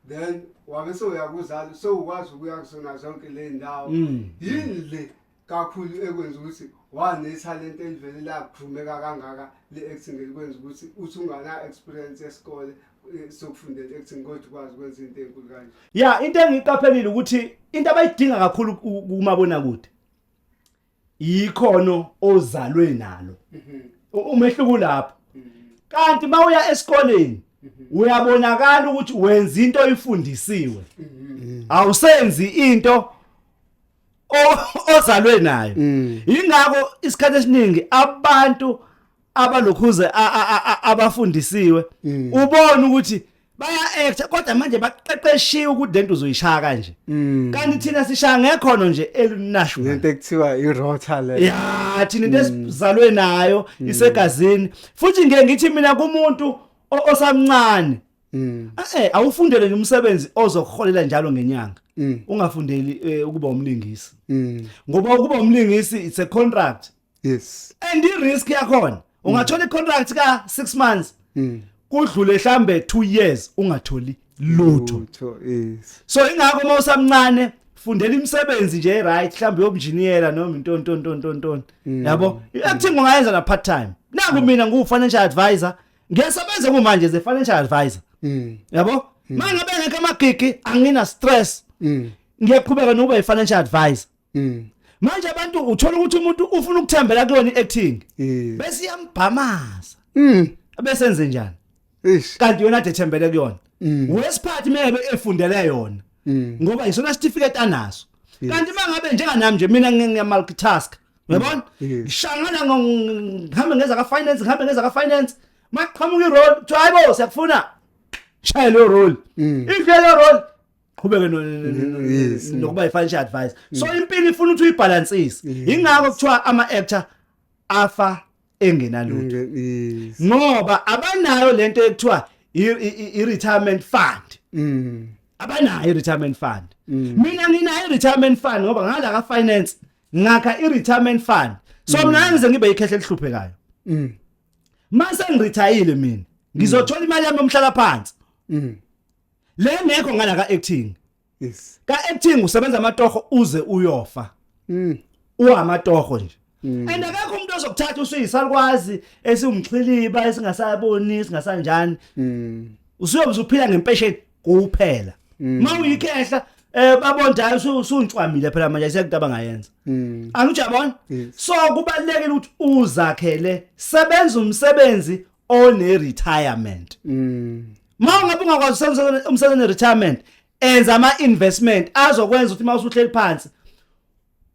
then wabe sewuya kuzalo sewukwazi ukuya kuzona zonke ley'ndawo Mm. yini le kakhulu ekwenza ukuthi wanethalente elivele lakugrumeka kangaka le-acting elikwenza ukuthi uthi ungana-experience yesikole eh, sokufundela i-acting kodwa ukwazi ukwenza into enkulu kanje ya into engiyiqaphelile ukuthi into abayidinga kakhulu ku- kumabonakude yikhono ozalwe nalo umehluko ulapho kanti mawuya esikoleni uyabonakala ukuthi wenza into oyifundisiwe awusenzi into o- ozalwe nayo ingakho isikhathi esiningi abantu abalokhuze a- a- a- a- abafundisiwe Mm. ubona ukuthi baya actor kodwa manje baqeqeshiwe ukuthi lento uzoyishaya kanje Mm. kanti thina sishaya ngekhono nje elinasho lento ekuthiwa irota le ya thina into esizalwe nayo isegazini futhi ngeke ngithi mina kumuntu o- osamncane Mm, eh awufundele nje umsebenzi ozokuholela njalo ngenyanga mm, ungafundeli eh, ukuba umlingisi mm. ngoba ukuba umlingisi it's a contract yes and i risk yakhona ungathola i contract ka 6 months mm. kudlule hlambe 2 years ungatholi lutho yes so ingakho uma usamncane fundela imisebenzi nje right mhlawumbe yobunjiniyela noma into into into into into mm. yabo acting ungayenza na part time naku mm. mina ngu financial advisor ngiyasebenza kumanje ze financial advisor mm. yabo mangabe ngeke amagigi angina stress ngiyaqhubeka nokuba i financial advisor Mm. Manje abantu uthola ukuthi umuntu ufuna ukuthembela kuyona iacting. Mm. Bese iyambhamaza. Mm. Bese enze njani? Ish. Kanti yona ade thembele kuyona. Mm. Wesiphathi mebe efundele yona. Mm. Ngoba isona certificate anaso. Kanti mangabe njenga nami nje mina ngiyamultitask. Uyabona? Ngishangana ngihambe ngeza ka finance, ngihambe ngeza ka finance. Maqhamuka irole, kuthiwa hayibo siyakufuna. Shaya lo role. If le role qhubeke no- no- no- no- Yes. nokuba i-financial advice so impilo ifuna ukuthi uyibhalansise yingakho kuthiwa ama-actor afa engenalutho Nge- yes. ngoba abanayo lento ekuthiwa i- i- i- i-retirement fund Mm. abanayo i-retirement fund mina nginayo i-retirement fund ngoba ngala ka-finance ngakha i-retirement fund so mina ngangize ngibe ikhehle elihluphekayo Mm. mase ngirithayile mina ngizothola imali yami yomhlala phansi Mm. le ngekho ngala ka acting yes ka acting usebenza amatoho uze uyofa mm uhamatoho nje Mm. and akekho umuntu ozokuthatha usuyisalukwazi esiwumxhiliba esingasaboni esingasanjani mm usuyobe uphila ngempesheni kuphela Mm. uma uyikhehla eh babonda hayi usu- usuntswamile phela manje sekudaba abangayenza mm angijabona Yes. so kubalekile ukuthi uzakhele sebenza umsebenzi one retirement mm ma ungabe ungakwazi usenza umsebenzi retirement enza ama investment azokwenza ukuthi uma usuhleli phansi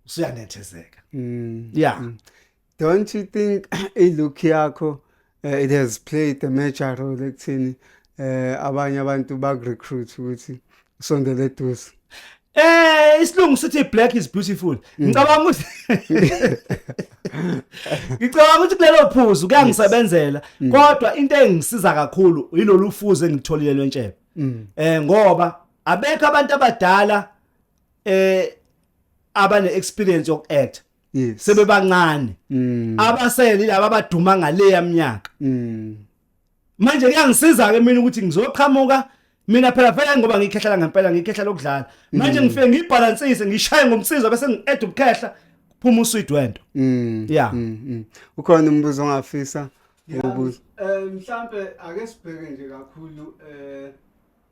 usuyanethezeka mm yeah mm. don't you think i look yakho uh, it has played a major role ekuthini eh abanye abantu bakurecruit ukuthi Sondele duze. Eh isilungu sithi black is beautiful. Mm. Ngicabanga ukuthi Ngicabanga ukuthi kulelo phuzu kuyangisebenzela mm. kodwa into engisiza kakhulu yilolu fuze engitholile lwentshebe. Mm. Eh ngoba abekho abantu abadala eh abane experience yoku act. Yes. Sebebancane. Abasele laba abaduma ngale yamnyaka. manje kuyangisiza ke mina ukuthi ngizoqhamuka mina phela vele ngoba ngikhehlela ngempela ngikhehla lokudlala manje mm. ngifike ngibhalansise ngishaye ngomsizo bese ngi-add ubukhehla phuma usweet wento mm. ya mm, ukhona umbuzo ongafisa ukubuza eh, mhlambe ake sibheke nje kakhulu eh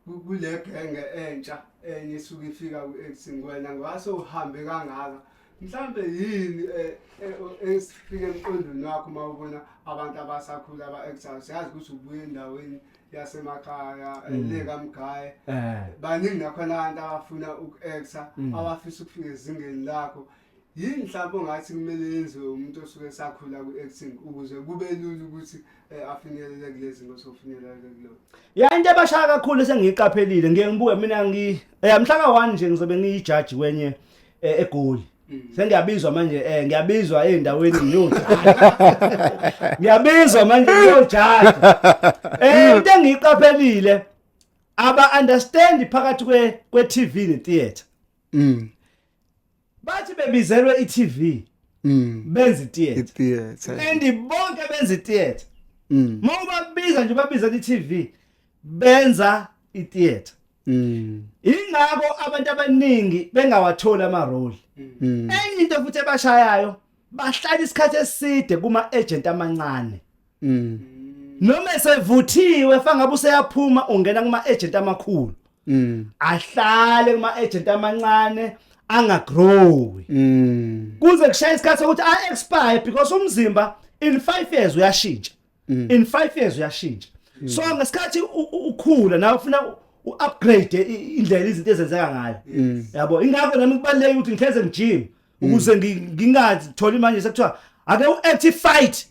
kule genge entsha enye isuke ifika ku-x ngiwena ngoba sewuhambe kangaka mhlawumbe yini e, e, esifike emqondweni wakho uma ubona abantu abasakhula aba-exile siyazi ukuthi ubuye endaweni yasemakhaya mm. elekamgaye eh. baningi nakhona abantu abafuna uku-exa mm. abafisa ukufika ezingeni lakho Yini mhlawumbe ongathi kumele yenziwe umuntu osuke esakhula ku-acting ukuze kube lula ukuthi eh, afinyelele kule zinto osofinyelela kulo ya into ebashaya kakhulu esengiyiqaphelile ngiye ngibuke mina ngi eh, mhlaka one nje ngizobe ngiyijaji kwenye eh, egoli mm. sengiyabizwa manje eh ngiyabizwa endaweni nyothi ngiyabizwa manje ngiyojaji eh into engiyiqaphelile aba understand phakathi kwe kwe TV ne theater mm bathi bebizelwe i-TV mm. benza i-theatre and bonke benza i-theatre mm. uma ubabiza nje babiza i-TV benza i-theatre mm. ingakho abantu abaningi bengawatholi ama-role enye into futhi ebashayayo bahlala isikhathi eside kuma-agent amancane Mm. Noma esevuthiwe fangabe useyaphuma ungena kuma agent amakhulu. Mm. Ahlale kuma agent amancane angagrowi. Mm. Kuze kushaye isikhathi sokuthi a expire because umzimba in 5 years uyashintsha. Mm. In 5 years uyashintsha. Mm. So ngesikhathi ukhula nawe ufuna u-upgrade indlela izinto ezenzeka ngayo mm. yabo ingakho nami kubaluleke ukuthi ngihleze ngijim ukuze ngingatholi manje sekuthiwa ake u-active fight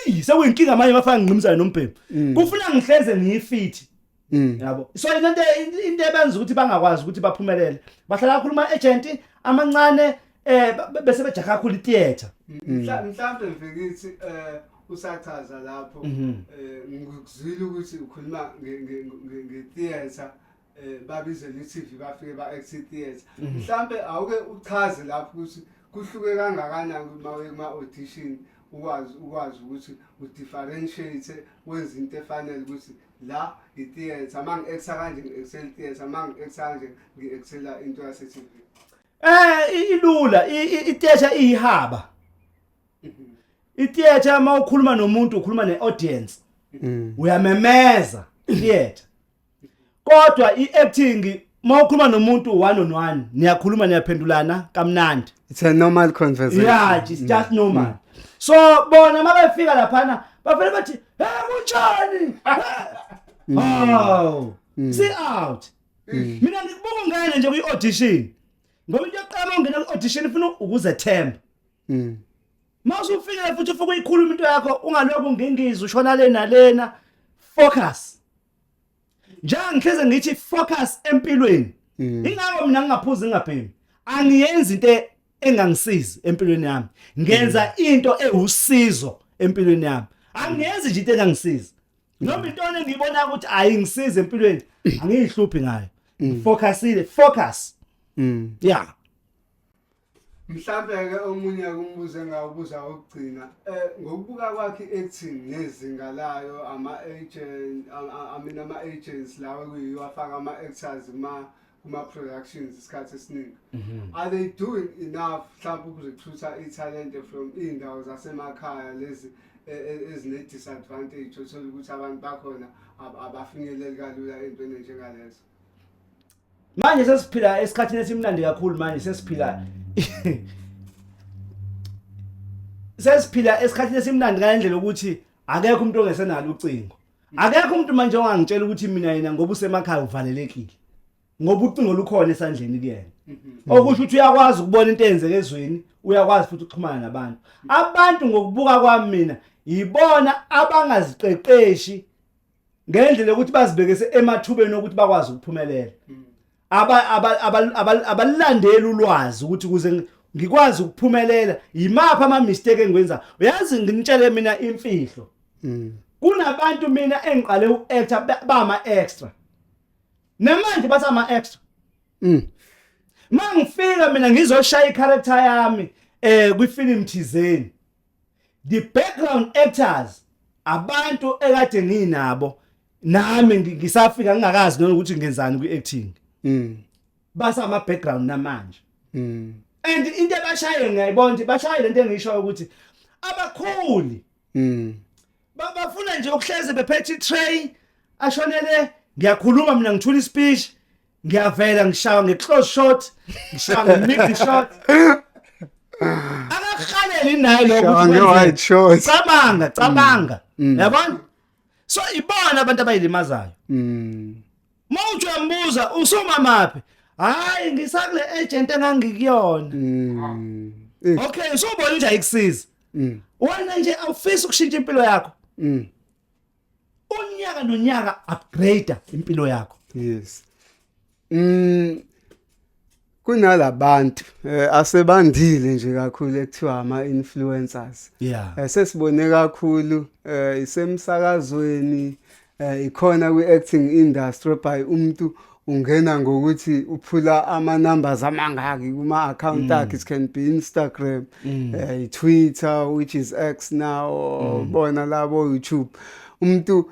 Eyi sekuyinkinga manje mafaka ngqimzana nombhemu. Mm. Kufuna ngihleze ngiyifithi. Mm. Yabo. So into into ebenza ukuthi bangakwazi ukuthi baphumelele. Bahlala kakhulu ama agent amancane eh bese bejaha kakhulu theater. Mm. Mhlawumbe mfikithi eh usachaza lapho mhm. eh ngikuzwile ukuthi ukhuluma nge theater eh babize ne TV bafike ba exit theater mhm. mhlambe awuke uchaze lapho ukuthi kuhluke kangakanani uma uma audition ukwazi ukwazi ukuthi udifferentiate wenza into efanele ukuthi la i-theatre uma ngi-exa kanje ngi-excel theatre uma ngi-exa kanje ngi-excela into yase-tv eh ilula i-theatre iyihaba i-theatre uma ukhuluma nomuntu ukhuluma ne-audience mm. uyamemeza i-theatre kodwa i-acting uma ukhuluma nomuntu one on one niyakhuluma niyaphendulana kamnandi it's a normal conversation yeah it's just normal mm. so bona uma befika laphana bavele bathi he kunjani mm. oh mm. see out mm. mina ngikubuka ngane nje kwi-audition ngoba into yokuqala ongena kwi-audition ifuna ukuzethemba mm. mawusufikile futhi ufike uyikhuluma into yakho ungalokhu ngingizwe ushona lena lena focus njengoba ngihleze ngithi focus empilweni mm. ingakho mina ngingaphuzi ngingabhemi angiyenzi into e-, engangisizi empilweni yami ngenza mm. into ewusizo empilweni yami angiyenzi nje into engangisizi noma into engibona ukuthi ayingisize empilweni angiyihluphi ngayo focusile focus yeah Mhlawumbe-ke omunye kumbuze ngawubuza wokugcina um ngokubuka kwakhe i-acting nezinga layo ama-agent I mean ama-agents lawa kuyiwo afaka ama-actors kuma kuma-productions isikhathi esiningi mhm. are they doing enough mhlawumbe ukuzothutha ithalente from iy'ndawo zasemakhaya lezi e, e, ezine-disadvantage othole ukuthi abantu bakhona abafinyeleli kalula ey'ntweni njengalezo manje sesiphila esikhathini esimnandi kakhulu manje sesiphila sesiphila esikhathini esimnandi ngalendlela ukuthi akekho umuntu ongesenalo ucingo akekho umuntu manje ongangitshela ukuthi mina yena ngoba usemakhaya uvalelekile ngoba ucingo lukhona esandleni kuyena mhm. okusho ukuthi uyakwazi ukubona into eyenzeke ezweni uyakwazi futhi ukuxhumana nabantu abantu ngokubuka kwami mina yibona abangaziqeqeshi ngendlela yokuthi bazibekese emathubeni okuthi bakwazi ukuphumelela mm. abalandeli ulwazi ukuthi kuze ngikwazi ukuphumelela yimaphi ama mistake engiwenza uyazi nginitshele mina imfihlo mm. kunabantu mina engiqale uactor bama extra namanje basama extra mm. mangifika mina ngizoshaya icharacter yami eh kwifilm thizeni the background actors abantu ekade nginabo nami ngisafika ngingakazi noma ukuthi ngenzani kwi acting mm basa ama background namanje mm and into ebashaye ngiyayibona ukuthi bashaye lento engisho ukuthi abakhuli mm bafuna nje ukuhleze bephethe i tray ashonele ngiyakhuluma mina ngithula i speech ngiyavela ngishawa nge-close shot ngishawa nge-mid shot akahaleli naye Shawa nge-wide lokuthi shot. cabanga cabanga Mm. yabona so ibona abantu abayilimazayo Mm. uma uthi uyambuza usumamaphi hhayi ngisakule agent engangikuyona Mm. Eh, okay usubona nje ayikusiza mm, wena nje awufisi ukushintsha impilo yakho mm. unyaka nonyaka upgrade impilo yakho yes mm kunalabantu eh, asebandile nje kakhulu ekuthiwa ama influencers yeah eh, sesibone kakhulu eh, isemsakazweni eh, ikhona kwi acting industry by umuntu ungena ngokuthi uphula ama numbers amangaki kuma account mm. akhe it can be Instagram mm. uh, Twitter which is X now mm. bona labo YouTube umuntu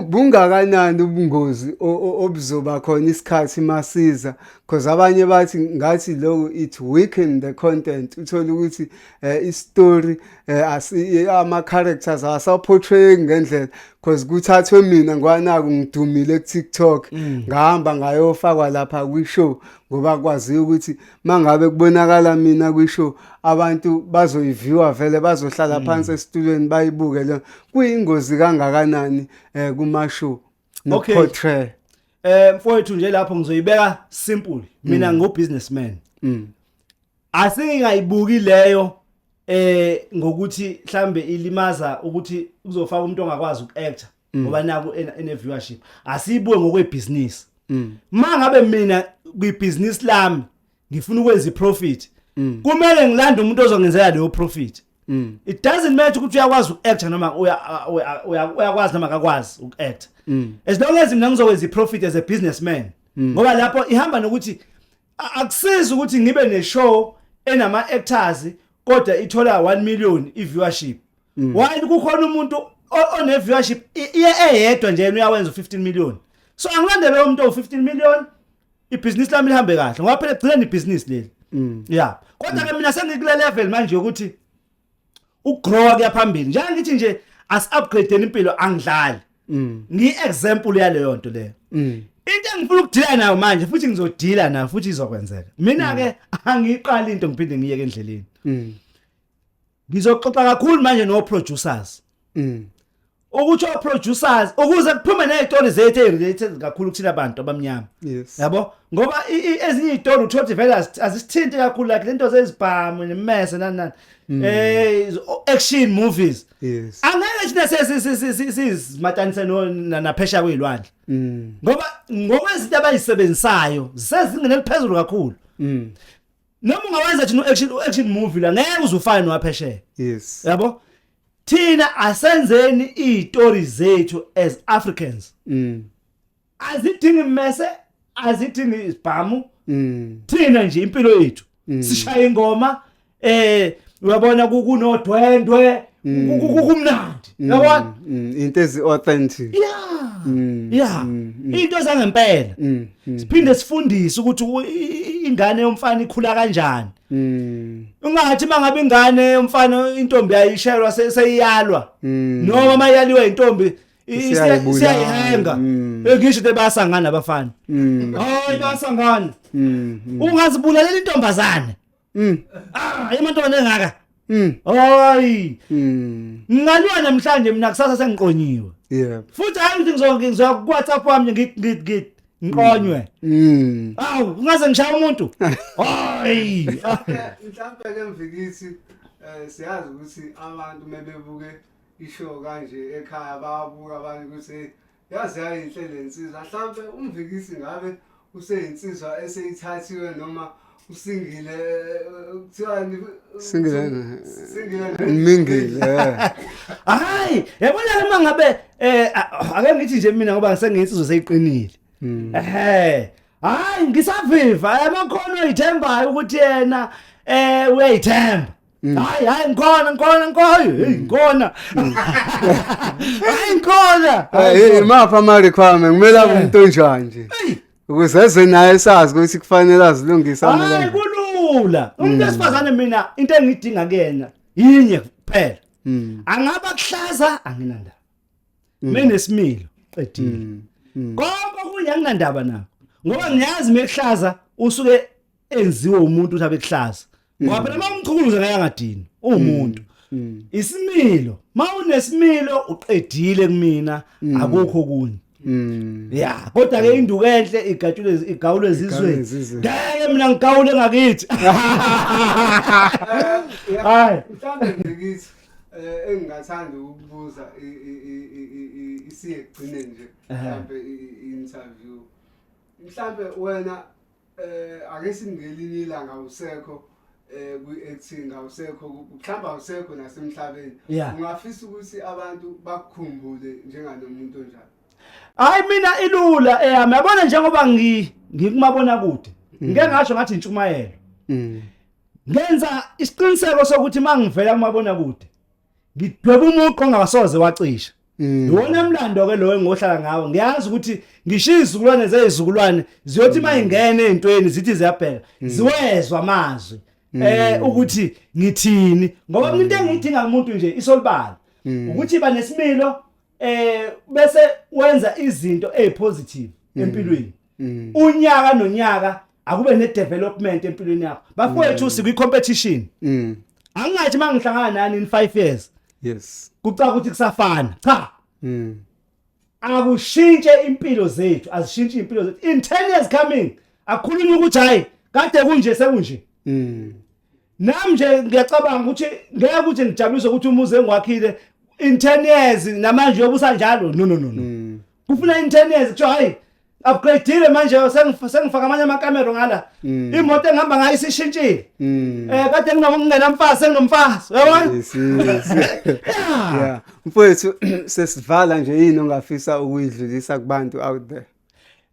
bungakanani ubungozi obuzoba khona isikhathi masiza because abanye bathi ngathi lokho it weaken the content uthole ukuthi eh, istory eh asi ama characters awasaportray ngendlela because kuthathwe mina ngwanaku ngidumile ku TikTok mm. ngahamba ngayofakwa lapha kwi show ngoba kwaziyo ukuthi mangabe kubonakala mina kwi show abantu bazoyiviewa vele bazohlala mm. phansi esitulweni bayibuke le kuyingozi kangakanani eh kuma show no portray eh mfowethu nje lapho ngizoyibeka simple mina mm. ngo businessman asingayibuki leyo eh ngokuthi mhlambe ilimaza ukuthi kuzofaka umuntu ongakwazi ukuactor mm. ngoba naku ene viewership asibuke ngokwebusiness mm. mangabe mina kwibusiness lami ngifuna ukwenza iprofit mm. kumele ngilande umuntu ozongenzela leyo profit Mm. It doesn't matter ukuthi uyakwazi ukuact noma uyakwazi noma akakwazi ukuact. Mm. As long as mina ngizokwenza iprofit as a businessman. Mm. Ngoba lapho ihamba nokuthi Akusizi ukuthi ngibe ne show enama actors kodwa ithola 1 million i viewership. Mm. Why kukhona umuntu one viewership iye eyedwa nje uyawenza 15 million. So angilandele umuntu o 15 million ibhizinisi lami lihambe kahle ngoba phela gcina ibhizinisi leli mm. ya kodwa ke mm. mina sengikulelevel manje ukuthi ukugrowa kuyaphambili njengoba ngithi nje asi-upgradeni impilo angidlali mm. ngiyi-example yaleyo nto leyo mm. into engifuna ukudila nayo manje futhi ngizodila nayo futhi izokwenzeka mina-ke mm. angiyiqali into ngiphinde ngiyeke endleleni ngizoxoxa kakhulu manje no-producers ukuthi o-producers ukuze kuphume ney'tori zethu eyi-related kakhulu kuthina bantu abamnyama yabo ngoba ezinye iy'tori uthola ukuthi vele azisithinti kakhulu like lento zezibhamu nemese nani nani um action movies angeke thina sizimatanise naphesha kwey'lwandle mm. ngoba ngokwezinto abayisebenzisayo zisezingeni eliphezulu kakhulu mm. noma ungawenza thina u-action movie la ngeke uzufane nowaphesheya yabo thina asenzeni izitori zethu as Africans mm. azidingi mese azidingi isibhamu mm. thina nje impilo yethu mm. sishaya ingoma eh uyabona kunodwendwe mm. kumnandi mm. yabona mm. into ezi authentic yeah yeah into zangempela siphinde sifundise ukuthi ingane yomfana ikhula kanjani Mm. Ungathi mangabe ingane umfana intombi ayishelwa seyiyalwa. Mm. Noma mayaliwa intombi isiyayihenga. Mm. Ngisho ukuthi basangana abafana. Mm. Hayi basangana. Mm. Ungazibulalela intombazane. Mm. Ah, amantombazane engaka. Mm. Hayi. Mm. Ngingalwa namhlanje mina kusasa sengiqonyiwe. Yeah. Futhi hayi ukuthi ngizonke ngizoya ku WhatsApp wami ngit ngit ngit ngiqonywe. Mm. Awu, ungaze ngishaya umuntu. Hayi. Mhlawumbe ke mvikisi eh siyazi ukuthi abantu mebebuke ishow kanje ekhaya babuka abanye ukuthi yaze yayinhle le nsizwa mhlawumbe umvikisi ngabe useyinsizwa eseyithathiwe noma usingile kuthiwani singile singile mingile hayi yabona uma ngabe eh ake ngithi nje mina ngoba ngisenginsizwa seyiqinile hmm. ehe hayi ngisaviva amakhono ithembayo ukuthi yena eh uyayithemba Mm. hayi hayi ngikhona ngikhona ngikhona hey mm. ngikhona mm. hayi ngikhona hey imapha ama requirement kumele abe umuntu onjani nje ukuze eze naye sazi ukuthi kufanele azilungise amela hayi kulula umuntu esifazane mina into engidinga kuyena yinye kuphela angaba kuhlaza anginandaba menesimilo qedile konke okunye anginandaba nako ngoba ngiyazi mekuhlaza usuke enziwe umuntu uthi abekuhlaza mm. ngoba phela mawumchukuluza ngeke angadini uwumuntu mm. mm. isimilo mawunesimilo uqedile kumina akukho kunye ya kodwa ke induku enhle igatshule igawule ezizweni ngeke mina ngigawule ngakithi hayi mhlawumbe ngikithi eh, engingathanda ukubuza isiyegcine nje mhlawumbe i-interview mhlawumbe wena eh ake singelinye ilanga usekho eh kwi-acting awusekho mhlawumbe awusekho nasemhlabeni Yeah. ungafisa ukuthi abantu bakukhumbule njenganomuntu onjalo hayi mina ilula eyami yabona njengoba ngi- ngikumabona kude ngike ngasho ngathi intshumayelo ngenza isiqiniseko sokuthi uma ngivela kumabona kude ngidweba umuqo ongasoze wacisha mm. iwona mlando ke lowo engohlala ngawo ngiyazi ukuthi ngisho izizukulwane zezizukulwane ziyothi uma mm. ingene ezintweni zithi ziyabheka mm. ziwezwa amazwi eh ukuthi ngithini ngoba mina into engiyidinga kumuntu nje isolibala ukuthi ba nesimilo eh bese wenza izinto ezipositive empilweni unyaka nonyaka akube ne development empilweni yakho bafowethu mm. sikwi competition mm. angingathi mangihlangana nani in 5 years yes kucaka ukuthi kusafana cha mm. akushintshe impilo zethu azishintshe impilo zethu in 10 years coming akhulunywe ukuthi hayi kade kunje sekunje mm. nami nje ngiyacabanga ukuthi ngeke ukuthi ngijabulise ukuthi umuzi engwakhile in 10 years namanje yobusa njalo no no no no mm. kufuna in 10 years kuthiwa hayi upgradeile manje sengifaka amanye amakamero ngala mm. imoto engihamba ngayo isishintshile mm. eh kade ngingena mfazi senginomfazi yabona yeah mfowethu sesivala nje yini ongafisa ukuyidlulisa kubantu out there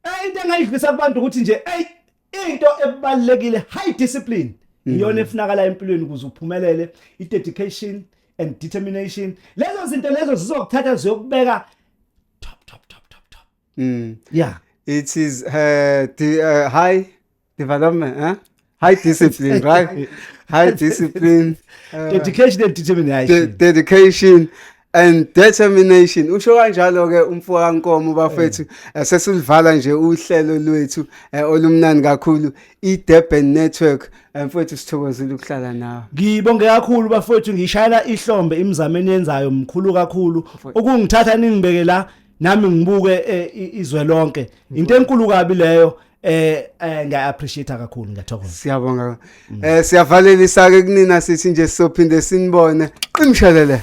eh into engayidlulisa kubantu ukuthi nje hey into ebalekile high discipline mm. iyona efunakala empilweni ukuze uphumelele i dedication and determination lezo zinto lezo zizokuthatha ziyokubeka top top top top top mm yeah it is uh, the, uh, high development huh? high discipline right high discipline uh, dedication and determination de dedication and determination usho kanjalo ke umfo kaNkomo bafethu eh. Eh, sesilivala nje uhlelo lwethu eh, olumnani kakhulu iDurban Network mfethu sithokozile ukuhlala nawe ngibonge kakhulu bafethu ngishayela ihlombe imizameni yenzayo mkhulu kakhulu ukungithatha ningibeke la nami ngibuke izwe lonke into enkulu kabi leyo eh eh ngiya appreciate kakhulu ngiyathokoza siyabonga eh siyavalelisa ke kunina sithi nje sizophinde sinibone qimshelele